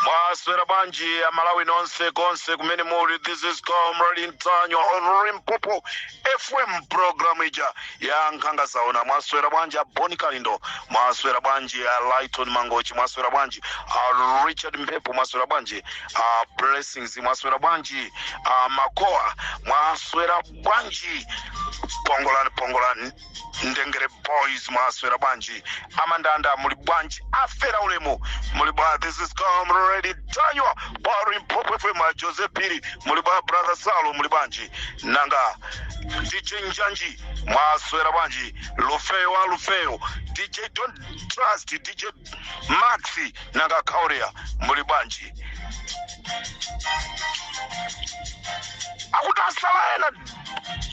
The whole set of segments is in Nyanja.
mwaswera bwanji amalawi nonse konse kumene muli this is comrade ntanyiwa on limpopo fm program ija ya nkhanga zaona mwaswera bwanji a bon kalindo mwaswera bwanji a lyton mangochi mwaswera bwanji a richard mphepo mwaswera bwanji a blessings mwaswera bwanji a makoa mwaswera bwanji pongolani pongolani ndengere boys mwaswera bwanji amandanda muli bwanji afera ulemu muli bwa this is comrade ntanyiwa pa limpopo fm a joseph phiri muli bwa brother salo muli bwanji nanga dj njanji mwaswera bwanji lufeyo wa lufeyo dj don't trust dj maxi nanga kauria muli bwanji akuti asala ena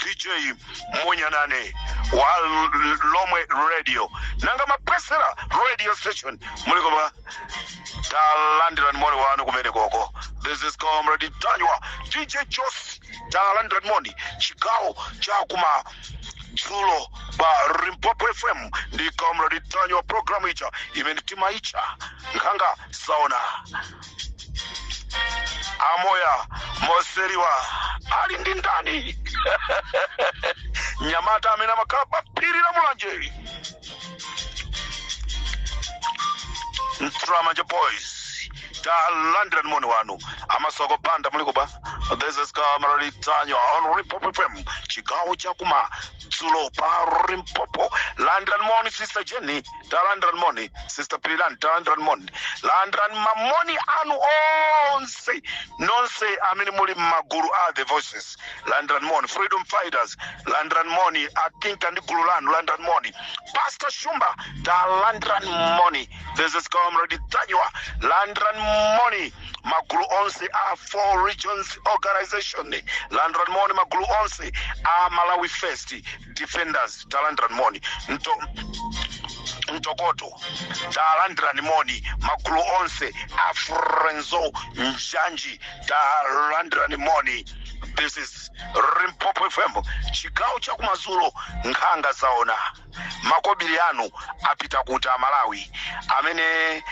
dj munyanane wa L- lomwe radio nanga mapesera radio station muliko bwa talandirani moni wanu kumene koko this is comrade ntanyiwa dj jos talandirani moni chigawo chakumadzulo pa limpopo fm ndi comrade ntanyiwa programu ija imene timaitcha nkhanga zaona amoya moseriwa ali ndi ndani mnyamata amene amakhala pa phiri la mulanje nthiramanja boys talandirani moni wanu amasoko banda muliko bwa this is comrade ntanyiwa on limpopo fm chigawo chakuma dzulo pa rimpopo landran moni sister jenny talandran moni sister pirilan talandran moni landran mamoni anu onse nonse amene muli m'magulu a the voices landran moni freedom fighters landran moni akinka ndi gulu lanu landran moni pastor shumba talandran moni this is comrade tanywa landran moni magulu onse a four regions organization landirani moni magulu onse a malawi first defenders talandirani moni Nto, mtokoto talandirani moni magulu onse a friends of njanji talandirani moni this is limpopo fm chigawo chakumadzulo nkhanga zaona makobiri anu apita kuti amalawi amene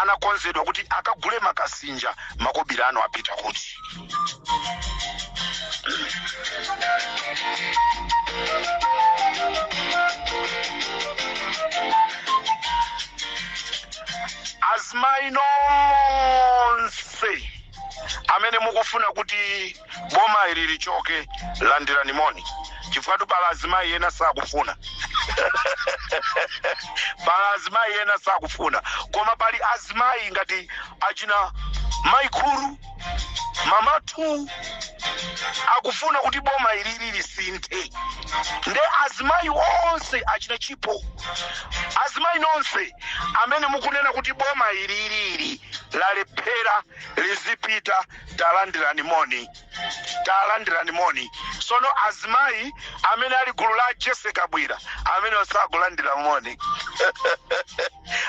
anakonzedwa kuti akagule makasinja makobiri anu apita kuti azimayi nonse amene mukufuna kuti boma ili lichoke landirani moni chifukwatu pali azimayi ena sakufuna pali azimayi ena sakufuna koma pali azimayi ngati achina maikulu mamatu akufuna kuti boma ilili lisinthe nde azimayi onse achina chipo azimayi nonse amene mukunena kuti boma ililili lalephera lizipita talandirani moni talandirani moni sono azimayi amene ali gulu la jessie kabwila amene osakulandira moni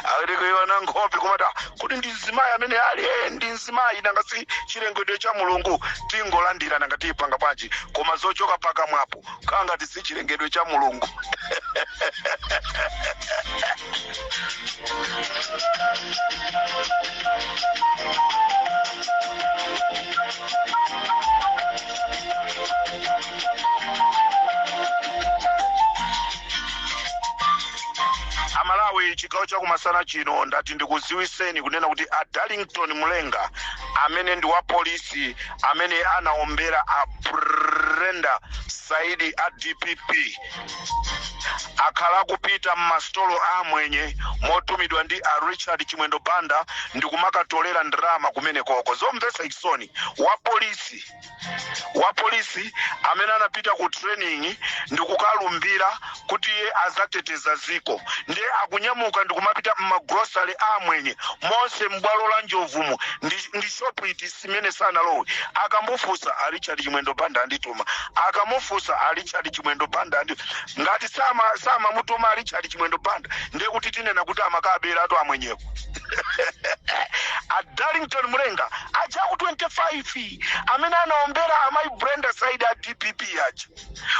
awiri kuiona nkhope kumata kuti ndi mzimayi amene ali eh, ndi mzimayi nanga si chilengedwe cha mulungu tingolandira nanga tipanga bwanji koma zochoka pakamwapo kangati si chilengedwe cha mulungu amalawi chigawo chakumasana chino ndati ndikuziwiseni kunena kuti a darlington mulenga amene ndi wa polisi amene anaombera a brenda saidi a dpp akhala akupita m'masitolo a amwenye motumidwa ndi a richard chimwendo banda ndi kumakatolera ndalama kumenekoko zomvetsa chisoni wapolisi wapolisi amene anapita ku training ndi kukalumbira kuti iye azateteza ziko ndiye akunyamuka ndi kumapita m'magrosale a amwenye monse m'bwalo la njovumu ndi, ndi shopu iti zimene sanalowe akamufunsa a richard chimwendo banda andituma akamufunsa a richard chimwendo banda andi ngati sama samamutuma a richard chimwendo banda ndiye kuti tinena kuti amakaberatu amwenyeko a darlington mulenga aja aku 25 amene anaombera amayi brenda saidi a dpp aja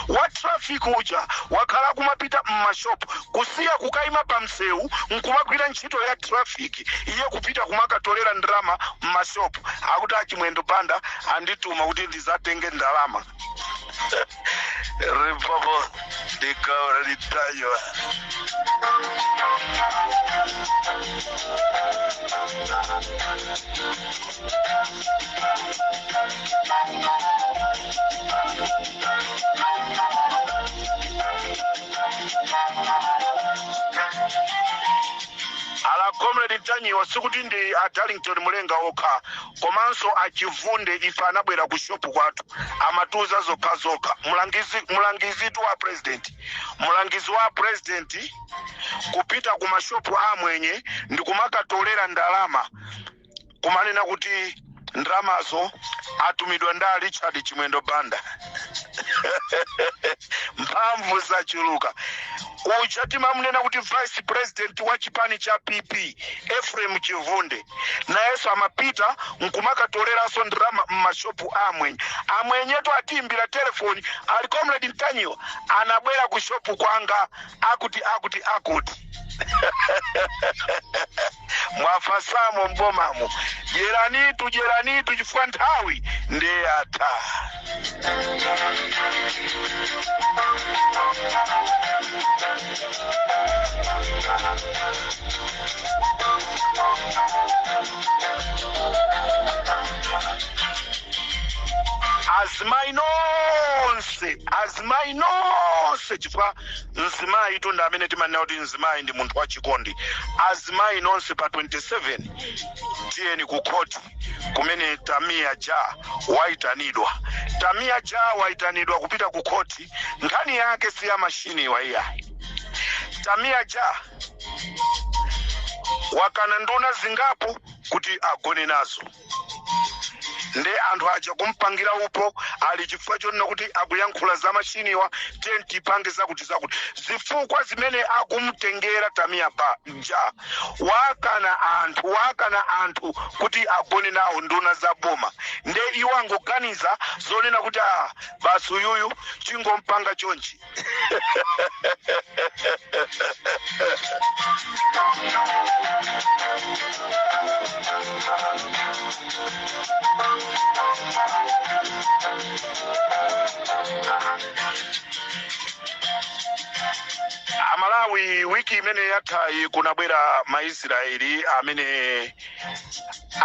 wa traffic uja wakhala akumapita m'mashop kusiya kukaima pa msewu nkumagwira ntchito ya traffic iye kupita kumakatolera ndalama m'mashop akuti achimwendo banda andituma kuti ndizatenge ndalama limpopo ndi comrade ntanyiwa ali comrade ntanyiwa sikuti ndi a darlington mulenga okha komanso achivunde ife anabwera ku shopu kwathu amatiuza zokhazokha mulangizi mulangizitu wa president mulangizi wa president kupita ku mashopu amwenye ndi kumakatolera ndalama kumanena kuti ndalamazo atumidwa ndi a richard chimwendo banda mphamvu zachuluka uja timamunena kuti vice president wa chipani cha pp ephraim chivunde nayenso amapita nkumakatoleranso ndalama mmashopu a amwenye amwenyetu atiimbira telefoni ali comrade ntanyiwa anabwera ku shopu kwanga akuti akuti akuti mwafasamo m'bomamo dyeranitu dyeranitu chifukwa nthawi ndi yatha azimai nonse azimai nonse chifukwa mzimayitu ndi amene timanena kuti mzimayi ndi munthu wachikondi azimayi nonse pa 27 tiyeni ku khoti kumene tamiya ja wayitanidwa tamiya ja wayitanidwa kupita ku khoti nkhani yake si ya mashiniwa iyayi tamiya ja wakana nduna zingapo kuti agone nazo nde anthu aja kumpangira upo ali chifukwa chonena kuti akuyankhula za mashiniwa tiye tipange zakuti zakuti zifukwa zimene akumtengera tamiya ja wakana anthu wakana anthu kuti agone nawo nduna za boma nde iwo angoganiza zonena kuti ah basi uyuyu tingompanga chonchi amalawi wiki imene yathayi kunabwera maisraeli amene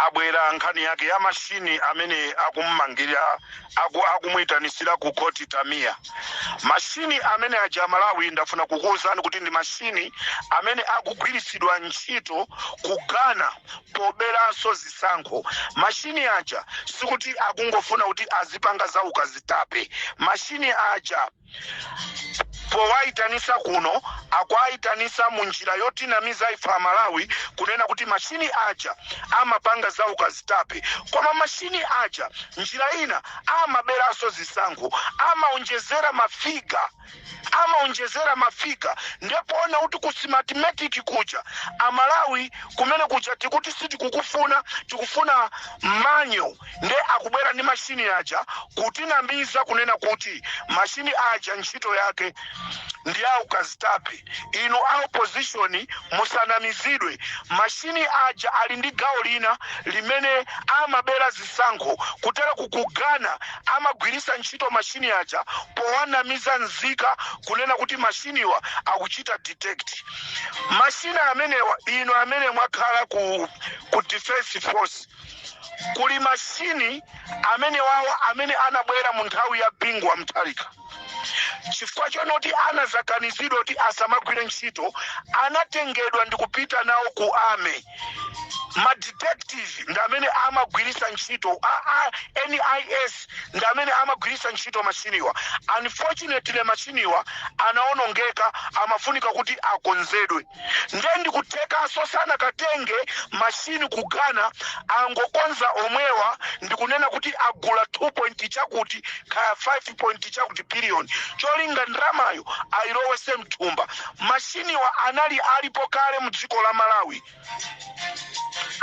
abwera nkhani yake ya mashini amene akummangira aku akumuitanitsira ku khoti Tamia. Mashini amene aja a Malawi ndafuna kukuwuzani kuti ndi mashini amene akugwiritsidwa ntchito ku Ghana poberanso zisankho. Mashini aja sikuti akungofuna kuti azipanga za ukazitape. Mashini aja powayitanisa kuno akuwayitanisa mu njira yotinamiza ife amalawi kunena kuti mashini aja amapanga za ukazitape koma mashini aja njira ina amaberanso zisankho amaonjezera mafiga amaonjezera mafiga nde poona kuti ku Smartmatic kuja amalawi kumene kuja tikuti sitikukufuna tikufuna manyo nde akubwera ndi mashini aja kutinamiza kunena kuti mashini aja ntchito yake ndi yaukazitape inu a opposition musanamizidwe mashini aja ali ndi gawo lina limene amabera zisankho kutera ku Ghana amagwirisa ntchito mashini aja powanamiza nzika kunena kuti mashiniwa akuchita detect mashini amenewa inu amene mwakhala ku, ku defense force kuli mashini amene wawo amene anabwera mu nthawi ya bingu wa mutharika chifukwa chonoti anazakanizidwa kuti asamagwire ntchito anatengedwa ndi kupita nawo ku ame madetective ndi amene amagwiritsa ntchito nis ndi amene amagwiritsa ntchito mashiniwa unfortunately mashiniwa anaonongeka amafunika kuti akonzedwe nde ndikuthekaso sanakatenge machine ku Ghana angokonza omwewa ndikunena kuti agula 2 point chakuti kaya 5 point chakuti billion cholinga ndramayo ayilowese mthumba mashiniwa anali alipo kale mu dziko la Malawi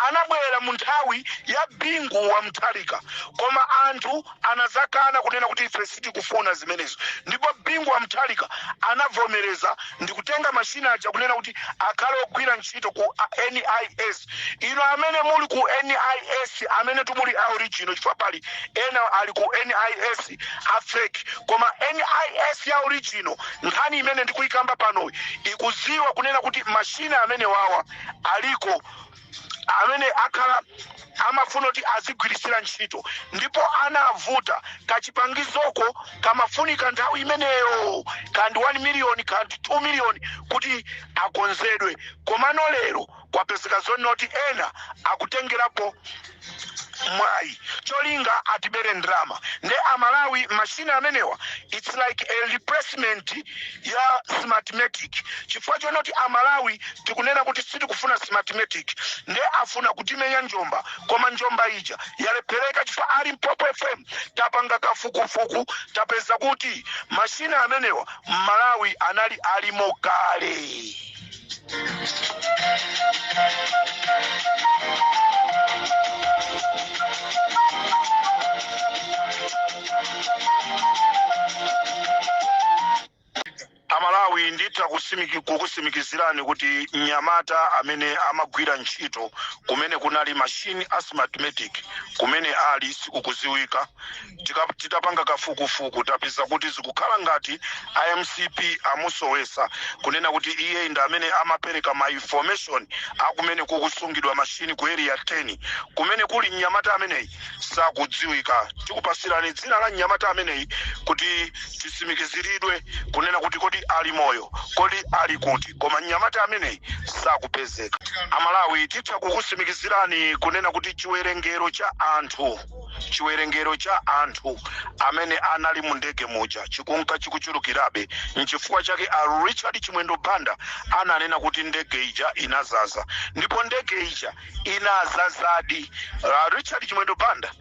anabwera mu nthawi ya bingu wa mutharika koma anthu anadzakana kunena kuti ife sitikufuna zimenezo ndipo bingu wa mutharika anavomereza ndikutenga mashina aja kunena kuti akhale ogwira ntchito ku nis ino amene muli ku nis amene timuli a original chifukwa pali ena ali ku nis a fake koma nis ya original nkhani imene ndikuyikamba pano ikuziwa kunena kuti mashina amene wawa aliko amene akhala amafuna kuti azigwiritsira ntchito ndipo anavuta kachipangizoko kamafunika nthawi imeneyo kandi 1 miliyoni kandi 2 miliyoni kuti akonzedwe komano lero kwapezeka zonoti ena akutengerapo mwayi cholinga atibere ndrama nde amalawi mashini amenewa its like a replacement ya smartmatic chifukwa chonoti amalawi tikunena kuti sitikufuna smartmatic nde afuna kutimenya njomba koma njomba ija yalephereka chifukwa a limpopo fm tapanga kafukufuku tapeza kuti mashini amenewa mmalawi anali alimo kale amalawi nditha kukusimikizirani kuti mnyamata amene amagwira ntchito kumene kunali mashini a smartmatic kumene ali sikukuziwika titapanga kafukufuku tapeza kuti zikukhala ngati a mcp amusowesa kunena kuti iye ndi amene amapereka ma information akumene kukusungidwa mashini ku area 10 kumene kuli mnyamata ameneyi sikukudziwika tikupasirani dzina la mnyamata ameneyi kuti tisimikiziridwe kunena kuti kodi ali moyo kodi ali kuti koma mnyamata ameneyi sakupezeka amalawi titha kukusimikizirani kunena kuti chiwerengero cha anthu chiwerengero cha anthu amene anali mu ndege muja chikunka chikuchulukirabe nchifukwa chake a richard chimwendo banda ananena kuti ndege ija inazaza ndipo ndege ija inazazadi a richard chimwendo banda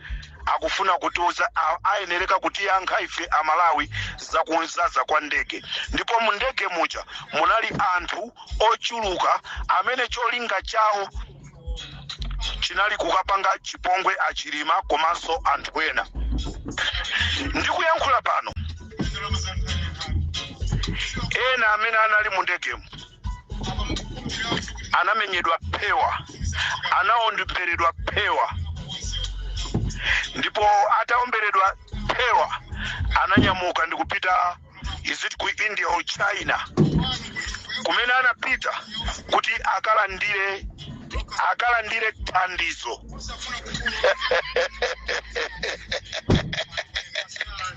akufuna kutiuza a- ayenereka kutiyankha ife amalawi za kuzaza kwa ndege ndipo mu ndege muja munali anthu ochuluka amene cholinga chawo chinali kukapanga chipongwe a chilima komanso anthu ena ndikuyankhula pano ena amene anali mu ndegemu anamenyedwa phewa anaomberedwa phewa ndipo ataomberedwa phewa ananyamuka ndikupita is it ku india or china kumene anapita kuti akalandire akalandire thandizo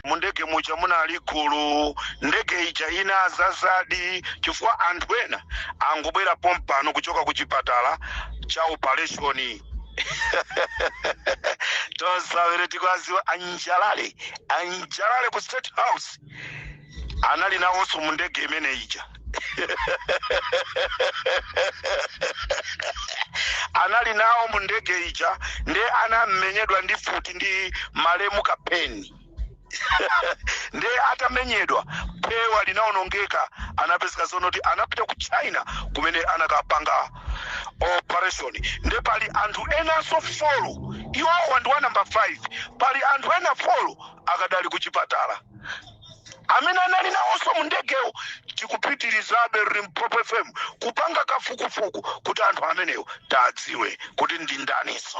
mundege muja munali gulu ndege ija inazazadi chifukwa anthu ena angobwera pompano kuchoka ku chipatala cha opereshoni osavera tikuwadziwa a njalale a njalale ku state house anali nawonso mu ndege imene ija anali nawo mu ndege ija nde anamenyedwa ndi futi ndi malemu kapeni nde atamenyedwa phewa linaonongeka anapezeka zonoti anapita ku china kumene anakapanga operation nde pali anthu enanso folo iwowa ndi wa namba 5 pali anthu ena folo akadali ku chipatala amene anali nawonso mu ndegemo tikupitirizabe limpopo fm kupanga kafukufuku kuti anthu amenewo tiwadziwe kuti ndi ndaninso